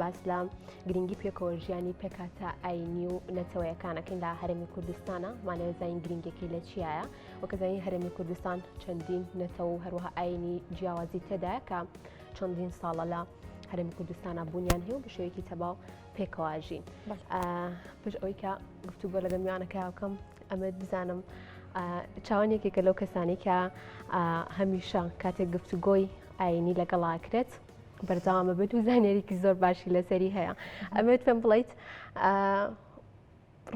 باس لە گرنگی پێکەوە ژیانی پێکاتە ئاینی و نەتەوەیەکانەکەین لە هەرمی کوردستانە مانەوە زین گرنگەکەی لە چیایە وەکەزانی هەرمی کوردستان چەندین نەتەوە و هەروەها ئاینی جیاوازی تێدا کە چەندین ساڵە لە هەرمی کوردستانە بوونیان هەیە و بە شێوەیەکی تەباو پێکەواژین پش ئەوی کە گفتوگۆ لەگەم میوانەکە بکەم ئەمە بزانم چاوان یەکێکە لەو کەسانی کە هەمیشە کاتێک گفتوگۆی ئاینی لەگەڵاکرێت بەردەوامە بێت و زانێریکی زۆر باشی لەسەری هەیە ئەمێت پێم بڵیت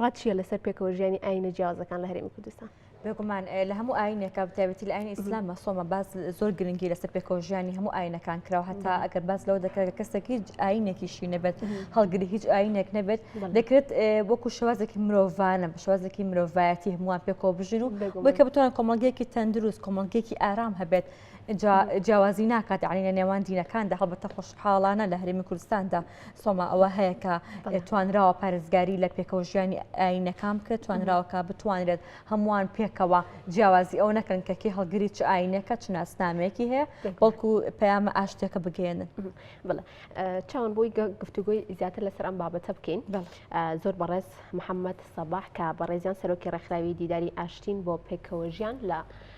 ڕاتچیە لەسەر پێکەوە ژیانی ئاینە جیازەکان لە هەرێمی کوردستان بێگومان لە هەموو ئاینێکە بتابەتی لە ئاین ئیسلام مەسۆمە باز زۆر گرنگی لەسەر پێکۆژیانی هەموو ئاینەکان کراوە هەتا ئەگەر باز لەوە دەکرێت کەسێک هیچ ئاینێکیشی نەبێت هەڵگری هیچ ئاینێک نەبێت دەکرێت وەکو شوازێکی مرۆڤانە بە شوازێکی مرۆڤایەتی هەمووان پێکۆ بژین و بکە بتوان کۆمەلگەیەکی تەندروست کۆمەلگەیەکی ئارام هەبێت جا جیاوازی ناکات یعنی لە نێوان دینەکاندا هەڵبەتە خۆشحاڵانە لە هەرێمی کوردستاندا سۆما ئەوە هەیە کە توانراوە پارێزگاری لە پێکەوە ژیانی ئاینەکان بکرێت توانراوەکە بتوانرێت هەمووان پێکەوە جیاوازی ئەو نەکەن کە کی هەڵگری چ ئاینەکە چ ناسنامەیەکی هەیە بەڵکو پەیامە ئاشتەکە بگەێنن بڵێ چاوان بۆی گفتوگوی زیاتر لەسەر ئەم بابەتە بکەین زۆر بەڕێز محەممەد سەباح کە بەڕێزیان سەرۆکی ڕێکخراوی دیداری ئاشتین بۆ پێکەوە ژیان لە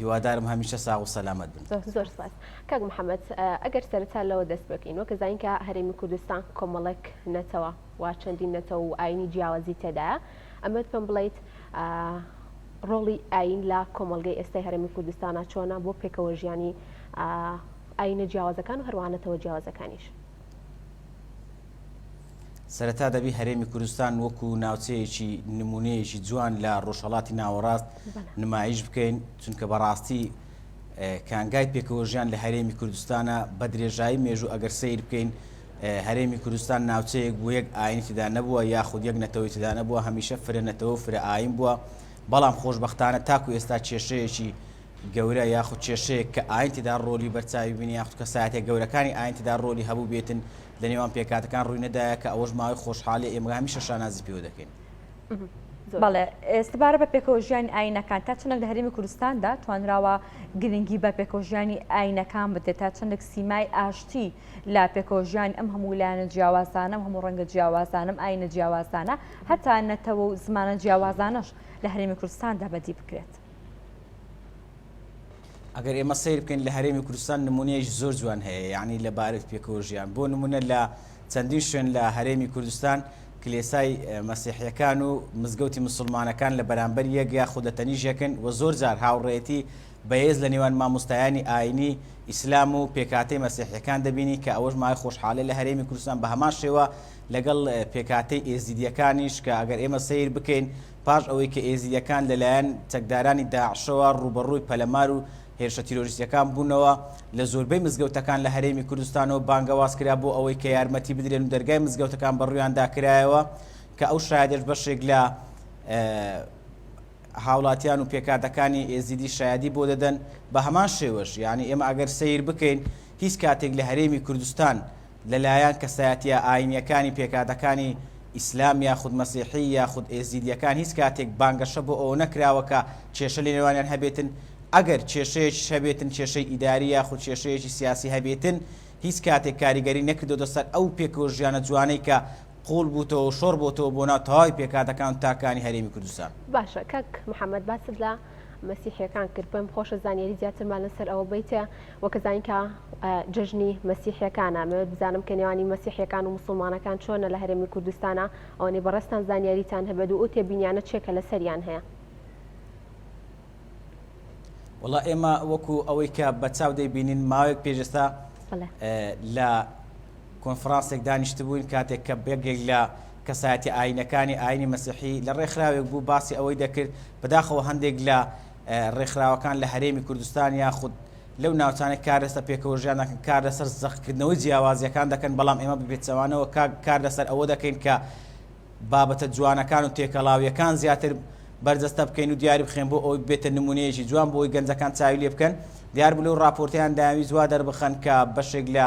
هیوادارم هەمیشە ساغ و سەلامەت بن زۆر سپاس کاک محەممەد ئەگەر سەرتا لەوە دەست بکەین وەکە زانکە هەرێمی کوردستان کۆمەڵک نەتەوە وا چەندین نەتەوە و ئاینی جیاوازی تێدا ئەمەت پێم بڵیت ڕۆڵی ئاین لە کۆمەلگەی ئێستای هەرمی کوردستانە چۆنە بۆ پێکەوە ژیانی ئاینە جیاوازەکان و هەروانەتەوە جیاوازەکانیش. سەرەتا دەبی هەرێمی کوردستان وەکو ناوچەیەکی نمونەیەکی جوان لە ڕۆژهڵاتی ناوەڕاست نمایش بکەین چونکە بەڕاستی کانگای پێکەوەژیان لە هەرێمی کوردستانە بە درێژایی مێژوو ئەگەر سیر بکەین هەرێمی کوردستان ناوچەیەک بوو یەک ئاینتیدا نەبووە یاخود یەک نەتەوەیتیدا نەبووە هەمیشە فرە نەتەوە فرە ئاین بووە بەڵام خۆشببختانە تاکو ئێستا کێشەیەکی گەورە یاخود کێشەیەک کە ئایین تێدا ڕۆلی بەرچاوی بینی یاخود کەسایەتە گەورەکانی ئایین تێدا ڕۆلی هەبووبێتن لە نێوان پێکهاتەکان ڕووی نەدایە کە ئەوەش ماوەی خۆشحالیە ئێمە هەمیشە شانازی پێوە دەکەین. بەڵێ سەبارەت بە پێکەوەژیانی ئایینەکان تا چەندێک لە هەرێمی کوردستاندا توانراوە گرنگی بە پێکەوەژیانی ئایینەکان بدرێت تا چەندێک سیمای ئاشتی لە پێکەوەژیانی ئەم هەموو لایەنە جیاوازانە ئەم هەموو ڕەنگە جیاوازانە ئەم ئاینە جیاوازانە هەتا نەتەوە و زمانە جیاوازانەش لە هەرێمی کوردستاندا بەدی بکرێت. ئەگەر ئێمە سیر بکەین لە هەرێمی کوردستان نمونەیەش زۆر جوان هەیە یعنی لە بارێت پێکەوە ژیان بۆ نمونە لە چەندین شوێن لە هەرێمی کوردستان کلێسای مەسیحیەکان و مزگەوتی مسلمانەکان لە بەرامبەر یەک یا خود لە تەنیژەکن و زۆر جار هاوڕێتی بەهێز لە نێوان مامۆستایانی ئاینی ئیسلام و پێکاتی مەسیحیەکان دەبینی کە ئەوەش مای خۆشحالی لە هەرێمی کوردستان بە هەمان شێوە لەگەڵ پێکاتی ئێزیدیەکانیش کە ئەگەر ئێمە سیر بکەین پاش ئەوەی کە ئێزیدییەکان لەلایەن چەکدارانی داعشەوە ڕووبەڕووی پەلەمار و هێرشە تیرۆریستییەکان بوونەوە، لە زۆربەی مزگەوتەکان لە هەرێمی کوردستانەوە بانگەواز کرا بۆ ئەوەی کە یارمەتی بدرێن و دەرگای مزگەوتەکان بەڕوویاندا کرایەوە کە ئەو شایەدەش بەشێک لە هاوڵاتیان و پێکهاتەکانی ئێزیدی شایەدی بۆ دەدەن بە هەمان شێوەش یانی ئێمە ئەگەر سەیر بکەین هیچ کاتێک لە هەرێمی کوردستان لەلایەن کەسایەتیە ئاینیەکانی پێکهاتەکانی ئیسلام یاخود مەسیحی یاخود ئێزیدیەکان هیچ کاتێک بانگەشە بۆ ئەوە نەکراوە کە کێشە لەنێوانیان هەبێتن، ئەگەر کێشەیەکیش هەبێتن کێشەی ئیداری یاخود کێشەیەکی سیاسی هەبێتن هیچ کاتێک کاریگەری نەکردۆتە سەر ئەو پێکەوە ژیانە جوانەی کە قوڵ بوتەوەو شۆڕ بۆتەوە بۆ ناو تەواوی پێکهاتەکان و تاکانی هەرێمی کوردستان. باشە کاک محمد باست لە. مەسیحیەکان کرد پێم خۆشە زانیاری زیاترمان لەسەر ئەوە بیتە وە کەزانین کە جژنی مەسیحەکانە مەوێت بزانم کە نێوانی مەسیحەکان و مسلمانەکان چۆنە لە هەرێمی کوردستانە ئەوەی بەڕستان زانیاریتان هەبێت و ئەو تێبینیانە چێکە لە سەریان هەیە وڵا ئێمە وەکو ئەوەی کە بە چاو دەیبینین ماوەیەک پێشستا لە کۆنفرانسێک دانیشتبووین کاتێک کە بەگێک لە کەسایەتیە ئاینەکانی ئاینی مەسیحی لە ڕێکخراوێک بوو باسی ئەوەی دەکرد بەداخەوە هەندێک لە ڕێکخراوەکان لە هەرێمی کوردستان یاخود لەو ناوچانەی کار لەسەر پێکەوەژیان دەکەن کار لەسەر زەقکردنەوەی جیاوازیەکان دەکەن بەڵام ئێمە بپێچەوانەوە کار لەسەر ئەوە دەکەین کە بابەتە جوانەکان و تێکەڵاویەکان زیاتر بەرجەستە بکەین و دیاری بخێن بۆ ئەوی بێتە نمونەیەکی جوان بۆی گەنجەکان چاوی لێ بکەن دیار بلو ڕاپۆرتیان داوی جوا دەربخەن کە بەشێک لە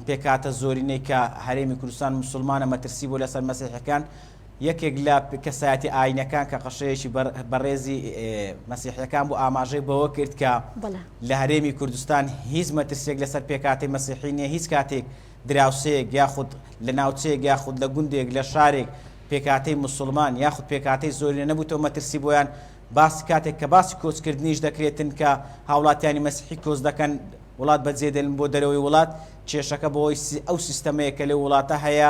پێکهاتە زۆرینەی کە هەرێمی کوردستان مسلمانە مەترسی بۆ لەسەر مەسیحەکان یەکێک لە کەسایەتی ئاینەکان کە قەشەیەکی بەڕێزی مەسیحەکان بۆ ئاماژەی بەوە کرد کە لە هەرێمی کوردستان هیچ مەترسێک لەسەر پێکاتی مەسیحی نیە هیچ کاتێک دراوسەیەک یاخود لە ناوچەیەک یاخود لە گوندێک لە شارێک پێکاتی مسلمان یاخود پێکاتی زۆرینە نەبووتەوە مەترسی بۆیان باسی کاتێک کە باسی کۆچ کردنیش دەکرێت تنکە هاوڵاتیانی مەسیحی کۆچ دەکەن وڵات بەجێ دێلن بۆ دەرەوەی وڵات کێشەکە بەوەی ئەو سیستەمەیە کە لەو وڵاتە هەیە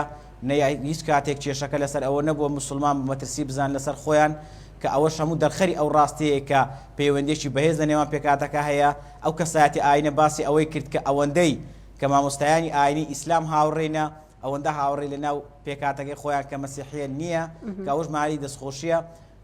نەیە هیچ کاتێک کێشەکە لەسەر ئەوە نەبووە مسلمان بە مەترسی بزان لەسەر خۆیان کە ئەوەش هەموو دەرخەری ئەو ڕاستەیە کە پەیوەندێکی بەهێز لە نێوان پێکاتەکە هەیە ئەو کەسایەتی ئاینە باسی ئەوەی کرد کە ئەوەندەی کە مامۆستایانی ئاینی ئیسلام هاوڕێنە ئەوەندە هاوڕێ لە ناو پێکاتەکەی خۆیان کە مەسیحیە نییە کە ئەوش ماری دەستخۆشیە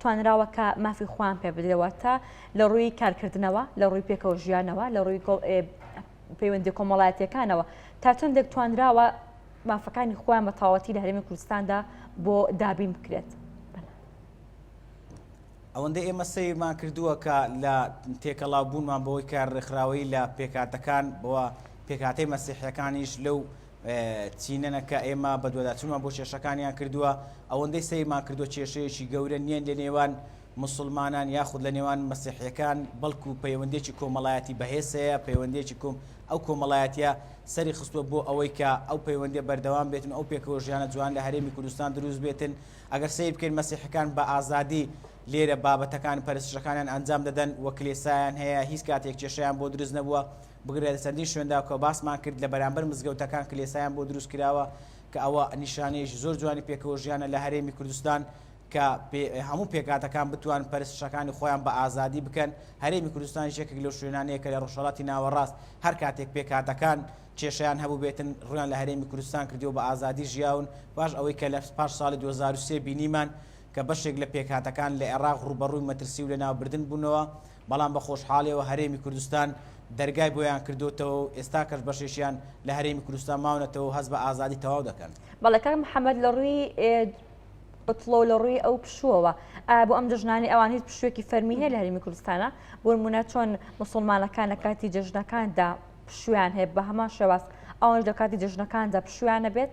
توانراوە کە مافی خۆیان پێ بدرێەوە تا لە ڕووی کارکردنەوە لە ڕووی پێکەوە ژیانەوە لە ڕووی پەیوەندی کۆمەڵایەتەکانەوە تا چەندێک توانراوە مافەکانی خۆیان بە تاوەتی لە هەرمی کوردستاندا بۆ دابین بکرێت. ئەوەندە ئێمە سەیرمان کردووە کە لە تێکەڵاو بوونمان بەوەی کە ڕێکخراوەی لە پێکاتەکان بەوە پێکاتەی مەسیحەکانیش لەو چینەنە کە ئێمە بەدواداچونمان بۆ کێشەکانیان کردووە ئەوەندەی سەیرمان کردو کێشەیەکی گەورە نییە لە نێوان مسلمانان یاخود لە نێوان مەسیحیەکان بەڵکو پەیوەندێکی کۆمەڵایەتی بەهێز هەیە پەیوەندێکی کۆم ئەو کۆمەڵایەتە سەری خستووە بۆ ئەوەی کە ئەو پەیوەندێ بەردەوام بێتن ئەو پێکەوە ژیانە جوان لە هەرێمی کوردستان دروست بێتن ئەگەر سیر بکەین مەسیحەکان بە ئازادی لێرە بابەتەکان پەرستشەکانیان ئەنجام دەدەن و کلێسایان هەیە هیچ کاتێک کێشیان بۆ دروست نەبووە بگرە لە چەندین شوێندا کە باسمان کرد لە بەرامبەر مزگەوتەکان کلێسایان بۆ دروست کراوە کە ئەوە نیشانەیەکی زۆر جوانی پێکەوە ژیانە لە هەرێمی کوردستان کە هەموو پێکاتەکان بتوان پەرستشەکانی خۆیان بە ئازادی بکەن هەرێمی کوردستان یەکێک لەو شوێنانەیە کە لە ڕۆژهەڵاتی ناوەڕاست هەر کاتێک پێکاتەکان کێشیان هەبوو بێتن ڕویان لە هەرێمی کوردستان کردیەوە بە ئازادی ژیاون باش ئەوەی کە لە پاش ساڵی 2023 بینیمان کە بەشێک لە پێکهاتەکان لە عێراق ڕوبەڕووی مەترسی و لەناوبردن بوونەوە بەڵام بە خۆشحاڵیەوە هەرێمی کوردستان دەرگای بۆیان کردۆتەوە و ئێستا کەش بەشێکیان لە هەرێمی کوردستان ماونەتەوە و هەست بە ئازادی تەواو دەکەن. بەڵێ کاک محەمەد لە ڕووی بتڵۆ لە ڕووی ئەو پشووەوە ئایا بۆ ئەم جژنانی ئەوان هیچ پشوێکی فەرمی هەیە لە هەرمی کوردستانە بۆمونە چۆن مسلمانەکان لە کاتی جژنەکاندا پشویان هەیە بە هەمان شێواز ئەوانش لە کاتی جژنەکاندا پشویانە بێت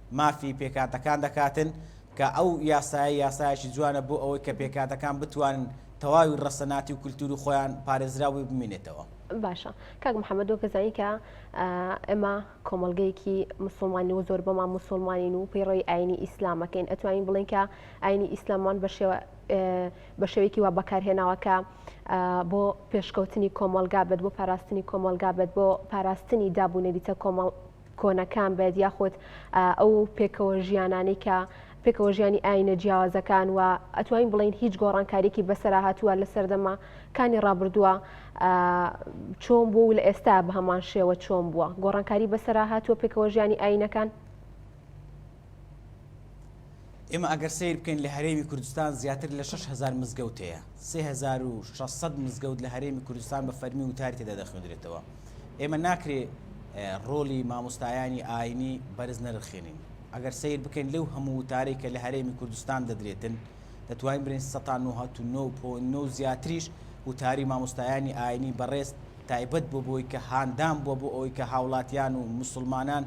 مافی پێکهاتەکان دەکاتن، کە ئەو یاسایە یاسایەکی جوانە بۆ ئەوەی کە پێکهاتەکان بتوانن تەواوی ڕەسەناتی و کولتووری خۆیان پارێزراو بێ بمینێتەوە. باشە کاک محمد وەک دەزانی کە ئێمە کۆمەڵگەیەکی مسلمانین و زۆر بەمان مسلمانین و پەیڕەوی ئاینی ئیسلامەکەین ئەتوانین بڵین کە ئاینی ئیسلامان بە شێوە بە شێوەیەکی وا بەکارهێناوە کە بۆ پێشکەوتنی کۆمەلگا بێت بۆ پاراستنی کۆمەلگا بێت بۆ پاراستنی دابوو نەریتە کۆمەڵ کۆنەکان بێت یاخود ئەو پێکەوە ژیانانی کە پێکەوە ژیانی ئاینە جیاوازەکان و ئەتوانین بڵین هیچ گۆڕانکاریکی بەسرا هاتووە لە سەردەمە کانی ڕابردووە چۆن بۆ و لە ئێستا بە هەمان شێوە چۆن بووە گۆڕانکاری بەسرا هاتووە پێکەوە ژیانی ئاینەکان ئێمە ئەگەر سیر بکەین لە هەرێمی کوردستان زیاتر لە 6هزار مزگەوت هەیە 3600 مزگەوت لە هەرێمی کوردستان بە فەرمی وتاری تێدا دەخوێندرێتەوە ئێمە ناکرێ ڕۆلی مامۆستایانی ئاینی بەرز نەرخێنین ئەگەر سیر بکەین لەو هەموو وتارێک کە لە هەرێمی کوردستان دەدرێتن دەتوانین برین 1990 زیاتریش وتاری مامۆستایانی ئاینی بەڕێز تایبەت بۆ بۆی کە هاندان بووە بۆ ئەوەی کە هاوڵاتیان و مسلمانان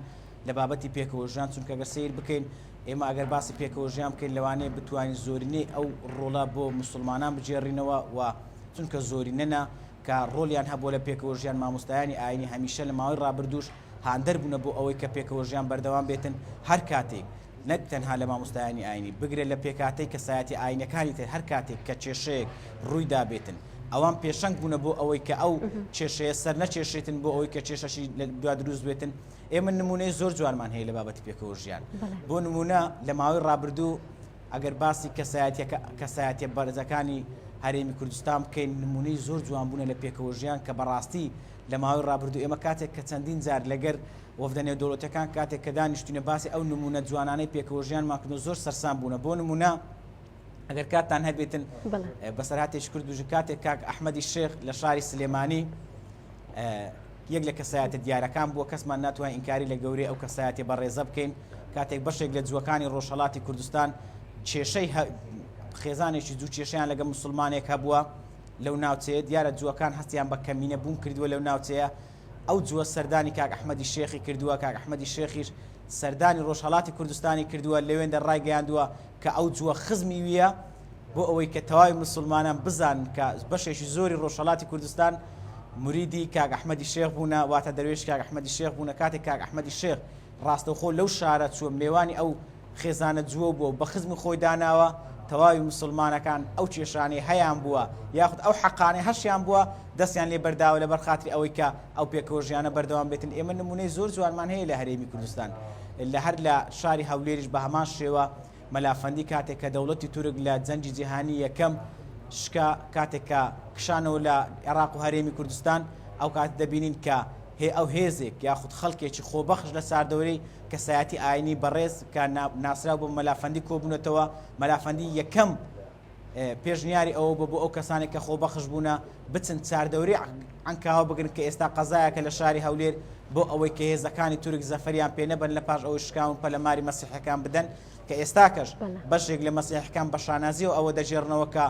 لە بابەتی پێکەوە ژیان، چونکە گەر سەیر بکەین ئێمە ئەگەر باسی پێکەوە ژیان بکەین لەوانەیە بتوانین زۆرینەی ئەو ڕۆڵە بۆ موسڵمانان بگێڕینەوە و چونکە زۆرینەنە کە ڕۆڵیان هەبووە لە پێکەوە ژیان مامۆستایانی ئاینی هەمیشە لە ماوەی ڕابردووش هاندەر بوونە بۆ ئەوەی کە پێکەوە ژیان بەردەوام بێتن هەر کاتێک نەک تەنها لە مامۆستایانی ئاینی بگرە لە پێکهاتەی کەسایەتی ئاینەکانی تر هەر کاتێک کە کێشەیەک ڕووی دابێتن ئەوان پێشەنگ بوونە بۆ ئەوەی کە ئەو کێشەیە سەر نەکێشێتن بۆ ئەوەی کە کێشەشی لە دوا دروست بێتن ئێمە نمونەی زۆر جوانمان هەیە لە بابەتی پێکەوە ژیان بۆ نمونە لە ماوەی ڕابردوو ئەگەر باسی کەسایەتەکە کەسایەتە بەرزەکانی هەرێمی کوردستان بکەین نمونەی زۆر جوان بوونە لە پێکەوە ژیان کە بەڕاستی لە ماوەی ڕابردوو ئێمە کاتێک کە چەندین جار لەگەر وەفدە نێودەوڵەتەکان کاتێک کە دانیشتینە باسی ئەو نمونە جوانانەی پێکەوە ژیانمان کردن زۆر سەرسان بوونە بۆ نمونە ئەگەر کاتتان هەبێتن بەسەرهاتێک کرد دوژ کاتێک کاک ئەحمەدی شێخ لە شاری سلێمانی یەک لە کەسایەتە دیارەکان بووە کەسمان ناتوانین ئینکاری لە گەورەی ئەو کەسایەتی بەڕێزە بکەین کاتێک بەشێک لە جوەکانی ڕۆژهڵاتی کوردستان کێشەی خێزانێکی دوو کێشیان لەگە مسلمانێک هەبووە لەو ناوچەیە دیارە جوەکان هەستیان بە کەمینە بوون کردووە لەو ناوچەیە ئەو جووە سەردانی کاک ئەحمەدی شێخی کردووە، کاک ئەحمەدی شێخیش سەردانی ڕۆژهەڵاتی کوردستانی کردووە، لەوێندە ڕایگەیاندووە کە ئەو جووە خزمی وییە، بۆ ئەوەی کە تەواوی موسڵمانان بزانن کە بەشێکی زۆری ڕۆژهەڵاتی کوردستان موریدی کاک ئەحمەدی شێخ بوونە، واتە دەروێشی کاک ئەحمەدی شێخ بوونە، کاتێک کاک ئەحمەدی شێخ ڕاستەوخۆ لەو شارە چووە مێوانی ئەو خێزانە جووە بووە و بە خزمی خۆی داناوە، تەواوی موسڵمانەکان ئەو کێشانەی هەیان بووە یاخود ئەو حەقانەی هەشیان بووە دەستیان لێ بەرداوە لەبەر خاتری ئەوەی کە ئەو پێکەوە ژیانە بەردەوام بێتن ئێمە نمونەی زۆر جوانمان هەیە لە هەرێمی کوردستان لە هەر لە شاری هەولێریش بە هەمان شێوە مەلا فەندی کاتێک کە دەوڵەتی تورک لە جەنگی جیهانی یەکەم شکا، کاتێک کە کشانەوە لە عێراق و هەرێمی کوردستان، ئەو کاتە دەبینین کە هێ ئەو هێزێک یاخود خەڵکێکی خۆبەخش لە چاردەورەی کەسایەتی ئاینی بەڕێز کە ناسراو بە مەلا فەندی کۆبوونەتەوە، مەلا فەندی یەکەم پێشنیاری ئەوە بوو بۆ ئەو کەسانێک کە خۆبەخش بوونە بچن چاردەوری عەنکاوە بگرن کە ئێستا قەزایەکە لە شاری هەولێر بۆ ئەوەی کە هێزەکانی تورک زەفەریان پێ نەبن لە پاش ئەوەی شکاون پەلەماری مەسیحەکان بدەن کە ئێستاکەش بەشێک لە مەسیحەکان بە شانازیەوە ئەوە دەژێڕنەوە کە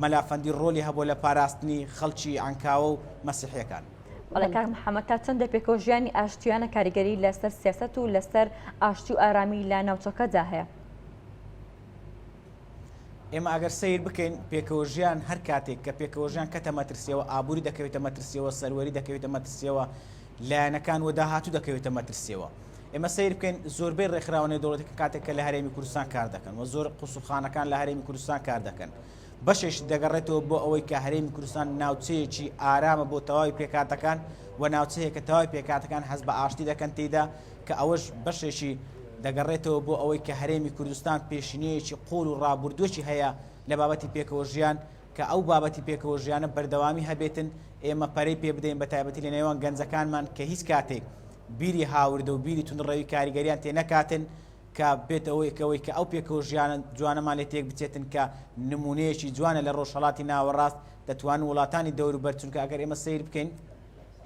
مەلافەندی ڕۆلی هەبوو لە پاراستنی خەڵکی ئەنکاوە و مەسیحەکان. بەڵێ کاک محەممەد تا چەندە پێکەوە ژیانی ئاشتیانە کاریگەری لەسەر سیاست و لەسەر ئاشتی و ئارامی لە ناوچەکەدا هەیە. ئێمە ئەگەر سەیر بکەین پێکەوەژیان هەر کاتێک کە پێکەوەژیان کەتە مەترسیەوە ئابووری دەکەوێتە مەترسیەوە سەروەری دەکەوێتە مەترسیەوە لایەنەکان و داهاتوو دەکەوێتە مەترسیەوە ئێمە سیر بکەین زۆربەی ڕێکخراوانە دەوڵەتەکە کاتێک کە لە هەرێمی کوردستان کار دەکەن و زۆر قوسوخانەکان لە هەرێمی کوردستان کار دەکەن بەشێش دەگەڕێتەوە بۆ ئەوەی کە هەرێمی کوردستان ناوچەیەکی ئارامە بۆ تەواوی پێکاتەکان و ناوچەیە کە تەواوی پێکاتەکان حەز بە ئاشتی دەکەن تێدا کە ئەوەش بەشێکی دەگەڕێتەوە بۆ ئەوەی کە هەرێمی کوردستان پێشینەیەکی قووڵ و ڕابوردووێکی هەیە لە بابەتی پێکەوە ژیان کە ئەو بابەتی پێکەوە ژیانە بەردەوامی هەبێتن ئێمە پەرەی پێ بدەین بە تایبەتی لە نێوان گەنجەکانمان کە هیچ کاتێک بیری هاوردە و بیری توندڕەوی کاریگەریان تێ نەکاتن کە بێت ئەوەی کەەوەی کە ئەو پێکەوە ژیانە جوانەمان لێ تێک بچێتن کە نمونەیەکی جوانە لە ڕۆژهڵاتی ناوەڕاست دەتوان وڵاتانی دەوروبەر چونکە ئەگەر ئێمە سیر بکەین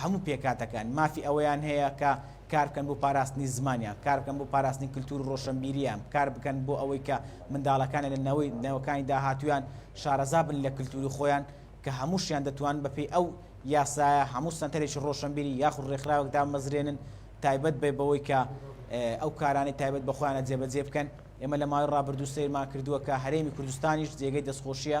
هەموو پێکهاتەکان مافی ئەوەیان هەیە کە کار بکەن بۆ پاراستنی زمانیان، کار بکەن بۆ پاراستنی کلتور و ڕۆشەنبیریان، کار بکەن بۆ ئەوەی کە منداڵەکانیان لە نەوەی نەوەکانی داهاتوویان شارەزا بن لە کلتوری خۆیان کە هەمووشیان دەتوانن بە پێی ئەو یاسایە هەموو سەنتەرێکی ڕۆشەنبیری یاخود ڕێکخراوێک دامەزرێنن تایبەت بێ بەوەی کە ئەو کارانەی تایبەت بە خۆیانە جێبەجێ بکەن. ئێمە لە ماوەی ڕابردوو سەیرمان کردووە کە هەرێمی کوردستانیش جێگەی دەستخۆشییە،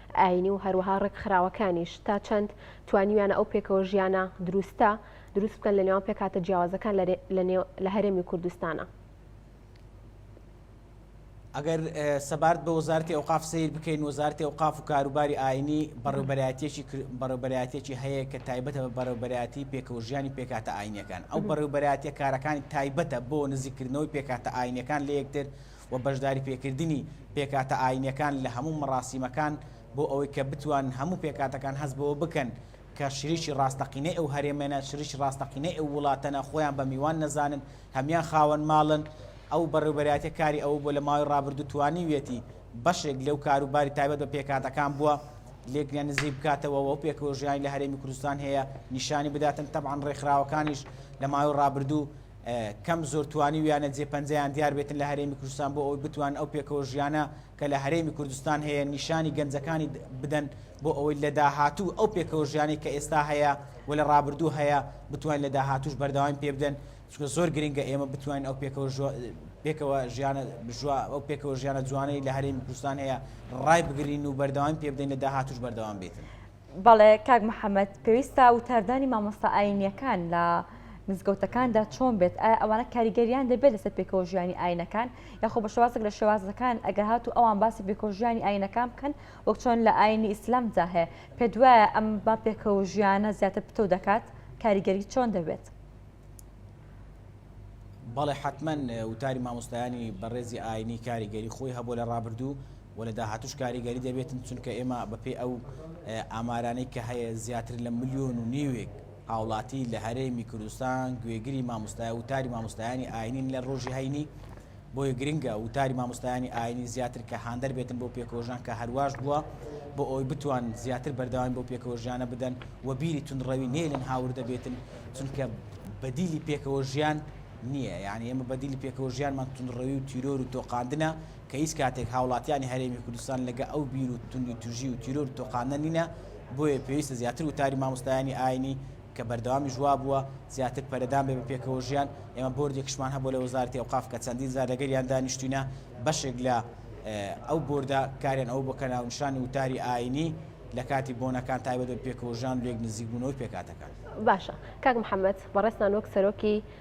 ئایینی و هەروەها ڕێکخراوەکانیش تا چەند توانیویانە ئەو پێکەوە ژیانە دروستە دروست بکەن لە نێوان پێکهاتە جیاوازەکان لە لە نێو لە هەرێمی کوردستانا. ئەگەر سەبارەت بە وەزارەتی ئەوقاف سەیر بکەین وەزارەتی ئەوقاف و کاروباری ئاینی بەڕێوبەرایەتێکی بەڕێوبەرایەتێکی هەیە کە تایبەتە بە بەڕێوبەرایەتی پێکەوەژیانی پێکاتە ئاینەکان ئەو بەڕێوبەرایەتە کارەکانی تایبەتە بۆ نزیکردنەوەی پێکاتە ئاینەکان لە یەکتر و و بەشداریپێکردنی پێکاتە ئایینیەکان لە هەموو مەراسیمەکان بۆ ئەوەی کە بتوانن هەموو پێکاتەکان هەست بەوە بکەن کە شریکی ڕاستەقینەی ئەو هەرێمەنە، شریکی ڕاستەقینەی ئەو وڵاتەنە، خۆیان بە میوان نەزانن، هەموان خاوەن ماڵن. ئەو بەڕێوبەرایەتیە کاری ئەوە بووە لە ماوەی ڕابردوو توانیویەتی بەشێک لەو کار و باری تایبەت بە پێکاتەکان بووە لێکنیان نزیک بکاتەوە و ئەو پێکەوەژیانی لە هەرێمی کوردستان هەیە نیشانی بداتن، تەبعەن ڕێکخراوەکانیش لە ماوەی ڕابردوو کەم زۆر توانیویانە جێ پەنجەیان دیار بێتن لە هەرێمی کوردستان بۆ ئەوەی بتوان ئەو پێکەوە ژیانە کە لە هەرێمی کوردستان هەیە نیشانی گەنجەکانی بدەن بۆ ئەوەی لە داهاتوو ئەو پێکەوە ژیانی کە ئێستا هەیە و لە ڕابردوو هەیە بتوان لە داهاتوش بەردەوام پێ بدەن چونکە زۆر گرنگە ئێمە بتوانین ئەو پێکەوە پێکەوە ژیانە بژوا ئەو پێکەوە ژیانە جوانەی لە هەرێمی کوردستان هەیە ڕای بگرین و بەردەوام پێ بدەین لە داهاتوش بەردەوام بێتن. بەڵێ کاک محەممەد پێویستە وتاردانی مامۆستا ئاینیەکان لە مزگەوتەکاندا چۆن بێت ئایا ئەوانە کاریگەریان دەبێت لەسەر پێکەوە ژیانی ئاینەکان یاخۆ بە شێوازێک لە شێوازەکان ئەگە هات و ئەوان باسی پێکۆژیانی ئاینەکان بکەن وەک چۆن لە ئاینی ئیسلام جاهەیە پێ دوایە ئەم با پێکەوە ژیانە زیاتر پتەو دەکات کاریگەری چۆن دەبێت. بەڵێ حەتمەن وتاری مامۆستایانی بەڕێزی ئاینی کاریگەری خۆی هەبوو لە ڕابردوو و لە داهاتوش کاریگەری دەبێتن چونکە ئێمە بەپێی ئەو ئامارانەی کە هەیە زیاتر لە ملیۆن و نیوێک هاوڵاتی لە هەرێمی کوردستان گوێگری مامۆستای وتاری مامۆستایانی ئاینین لە ڕۆژی هەینی بۆیە گرنگە وتاری مامۆستایانی ئاینی زیاتر کە هاندەر بێتن بۆ پێکەوەژان کە هەرواش بووە بۆ ئەوەی بتوان زیاتر بەردەوام بۆ پێکەوەژیانە بدەن و بیری تونڕەوی نێلن هاوردە بێتن چونکە بەدیلی پێکەوە ژیان نییە یعنی ئێمە بەدیلی پێکەوە ژیانمان تونڕەوی و تیرۆر و تۆقاندنە کە هیچ کاتێک هاوڵاتیانی هەرێمی کوردستان لەگە ئەو بیر و توندی توژی و تیرۆر و تۆقاندنە نینە بۆیە پێویستە زیاتر وتاری مامۆستایانی ئاینی کە بەردەوامیش وابووە زیاتر پەرەدان بێ بە پێکەوەژیان، ئێمە بۆردێکشمان هەبوو لە وەزارەتی ئەوقاف کە چەندین جار لەگەریان دانیشتووینە، بەشێک لە ئەو بۆردە کاریان ئەوە بووە کە ناونیشانی وتاری ئایینی لە کاتی بۆنەکان تایبەت بە پێکەوەژیان و لێک نزیکبوونەوەی پێکهاتەکان. باشە کاک محەمەد بەڕێزتان وەک سەرۆکی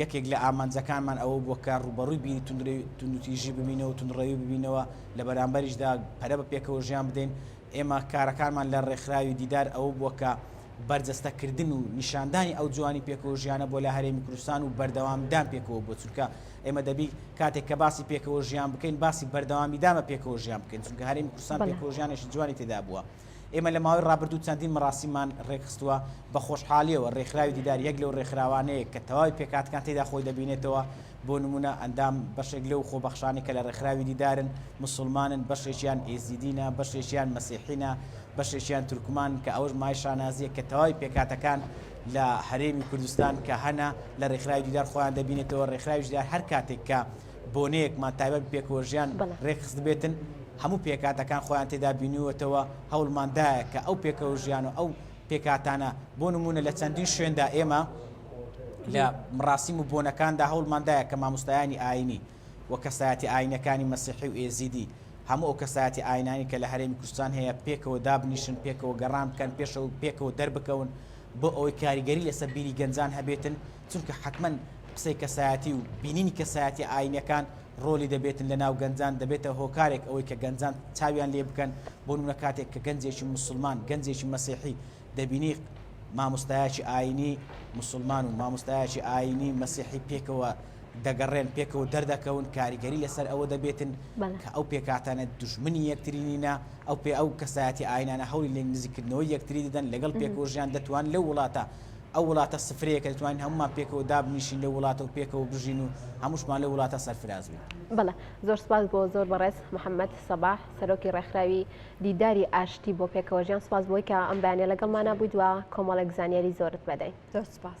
یەکێک لە ئامانجەکانمان ئەوە بووە کە ڕووبەڕووی بیری توندوتیژی ببینەوە و توندڕەوی ببینەوە، لە بەرامبەریشدا پەرە بە پێکەوەژیان بدەین. ئێمە کارەکانمان لە ڕێکخراوی دیدار ئەوە بووە کە بەرجەستەکردن و نیشاندانی ئەو جوانی پێکەوەژیانە بۆ لە هەرێمی کوردستان و بەردەوامیدان پێکەوە بووە، چونکە ئێمە دەبی کاتێک کە باسی پێکەوەژیان بکەین باسی بەردەوامیدامە پێکەوەژیان بکەین، چونکە هەرێمی کوردستان پێکەوەژیانێکی جوانی تێدا بووە. ئێمە لە ماوەی ڕابردوو چەندین مەراسیممان ڕێکخستووە، بە خۆشحالییەوە ڕێکخراوی دیدار یەک لەو ڕێکخراوانەیە کە تەواوی پێکهاتەکان تێیدا خۆی دەبینێتەوە، بۆ نموونە ئەندام بەشێک لەو خۆبەخشانەی کە لە ڕێکخراوی دیدارن موسڵمانن، بەشێکیان ئێزیدینە، بەشێکیان مەسیحینە، بەشێکیان تورکمانن، کە ئەوەش مایەی شانازییە کە تەواوی پێکهاتەکان لە هەرێمی کوردستان کە هەنە لە ڕێکخراوی دیدار خۆیان دەبینێتەوە، ڕێکخراوی دیدار هەر کاتێک کە بۆنەیەکمان تایبەت بە پێکەوەژیان رێکخستبێتن، هەموو پێکهاتەکان خۆیان تێدا بینیوەتەوە، هەوڵمان دایە کە ئەو پێکەوەژیان و ئەو پێکهاتانە، بۆ نموونە لە چەندین شوێندا ئێمە لە مڕاسیم و بۆنەکاندا هەوڵمان دایە کە ماموستایانی ئایینی و کەسایەتیە ئایینەکانی مەسیحی و ئێزیدی، هەموو ئەو کەسایەتیە ئایینانەی کە لە هەرێمی کوردستان هەیە پێکەوە دابنیشن، پێکەوە گەڕان بکەن پێشەوە و پێکەوە دەربکەون بۆ ئەوەی کاریگەری لەسەر بیری گەنجان هەبێتن. چونکە حەتمەن قسەی کەسایەتی و بینینی کەسایەتیە ئاینیەکان ڕۆلی دەبێتن لەناو گەنجان دەبێتە هۆکارێک ئەوەی کە گەنجان چاویان لێ بکەن بۆ نمونە کاتێک کە گەنجێکی مسلمان گەنجێکی مەسیحی دەبینی مامۆستایەکی ئاینی مسلمان و مامۆستایەکی ئاینی مەسیحی پێکەوە دەگەڕێن پێکەوە دەردەکەون کاریگەری لەسەر ئەوە دەبێتن کە ئەو پێکاتانە دژمنی یەکترینینە ئەو پێ ئەو کەسایەتی ئاینانە هەولی لێک نزیکردنەوەی یەکتری دەدەن لەگەڵ پێکۆژیان دەتوان لەو وڵاتە ئەو وڵاتە سفرەیە کە دەتوانین هەموومان پێکەوە دابنیشین لەو وڵاتە و پێکەوە بژین و هەمووشمان لەو وڵاتە سەرفراز بین. بەڵێ زۆر سپاس بۆ زۆر بەڕێز محەممەد سەباح سەرۆکی ڕێکخراوی دیداری ئاشتی بۆ پێکەوەژیان سپاس بۆی کە ئەم بەیانە لەگەڵمانە بوویت و کۆمەڵێک زانیاری زۆرت بەدەین زۆر سپاس.